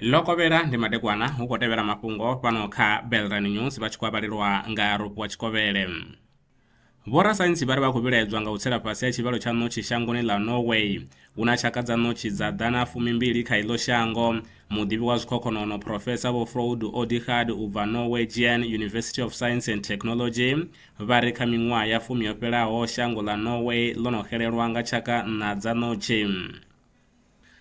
lokovhela ndi madekwana hu khou tevhela mafhungo fhano kha belran news vha tshi khou avhalelwa nga rupu wa tshikovhele vhorasaintsi vha ri vha khou vhilaedzwa nga u tsela fhasi ha tshivhalo tsha ṋotshi shangoni ḽa norway hu na tshaka dza ṋotshi dza ḓana fumimbili kha iḽo shango muḓivhi wa zwikhokhonono profesa vho froud odigard u bva norwegian university of science and technology Vha ri kha miṅwaha ya fumi yo fhelaho, shango ḽa Norway ḽo no xelelwa nga tshaka nṋa dza ṋotshi.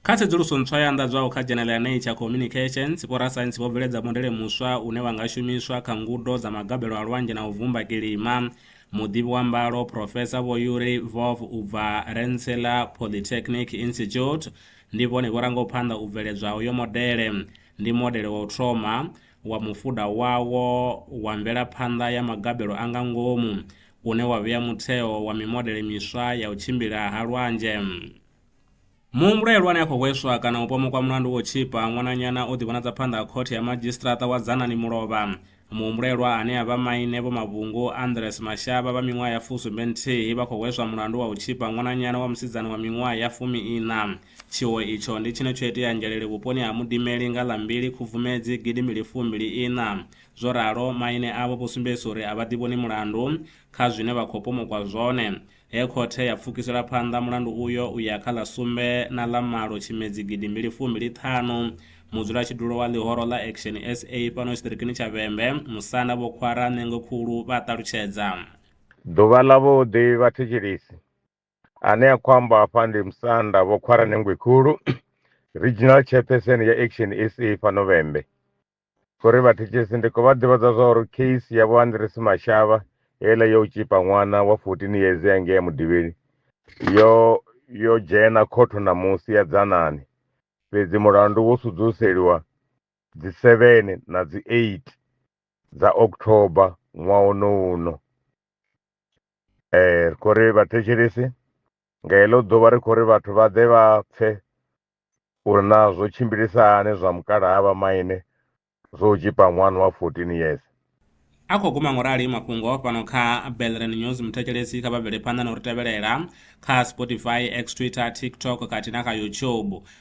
Kha tsedzuluso ntswa yo anḓadzwaho kha dzhenele ya Nature Communications, vhorasaintsi vho bveledza modele muswa une wa nga shumiswa kha ngudo dza magabelo a lwanzhe na u vhumba kilima. Muḓivhi wa mbalo, Phrofesa Vho Yuri Vov u bva Rensselaer Polytechnic Institute, ndi vhone vho rangaho phanḓa u bveledzwa ha uyo modele. Ndi modele wa u thoma. wa mufuda wawo wa mvelaphanḓa ya magabelo a nga ngomu une wa vhea mutheo wa mimodele miswa ya u tshimbila ha lwanzhe. Muhumbulo ya lwani a khou hweswa kana u pomokwa mulandu wo tshipa ṅwananyana o ḓivhonadza phanḓa ha khothe ya madzhisiṱiraṱa wa Dzanani Mulovha. Muhumbulelwa ane a vha maine Vho Mavhungu Andres Mashavha vha miṅwaha ya fusumbe nthihi vha khou hweswa mulandu wa u tshipa ṅwananyana wa musidzana wa miṅwaha ya fumi iṋa. Tshiwo itsho ndi tshine tsho itea Ngeleli vhuponi ha Mudimeli nga ḽa mbili Khubvumedzi gidi mbili fu mbili iṋa. Zwo ralo, maine avho vho sumbedzisa uri a vha ḓivhoni mulandu kha zwine vha khou pomokwa zwone. He khothe ya pfukisela phanḓa mulandu uyo u ya kha ḽa sumbe na ḽa malo Tshimedzi gidi mbili fu mbili ṱhanu, mudzulatshidulo wa ḽihoro ḽa Action sa fhano tshiṱirikini tsha Vhembe, Musanda Vho Khwara Ṋeengwe Khulu vha a ṱalutshedza. Ḓuvha ḽa vhuḓi vhathetshelesi ane a khou amba hafha ndi musanda vho khwara nengwe khulu regional chairperson ya action sa fhano vhembe khori vhathetshelesi ndi khou vha ḓivhadza zwa uri case ya vho andresi mashavha heiḽa yo u tshipa ṅwana wa 14 years ya ngea mudivhini yo yo dzhena khotho ṋamusi ya dzanani fhedzi mulandu wo sudzuseliwa dzi 7 na dzi 8 dza october ṅwaha uno uno um ri khou ri vhathetshelesi nga heḽo ḓuvha ri khou ri vhathu vha ḓe vha pfhe uri na zwo tshimbilisa hani zwa mukalaha vha maine zwo u tshipa ṅwana wa 14 years a khou guma ngorali mafhungo fhano kha belren news muthetshelesi kha vha bvele phanḓa na u ri tevhelela kha spotify x twitter tiktok kati na kha youtube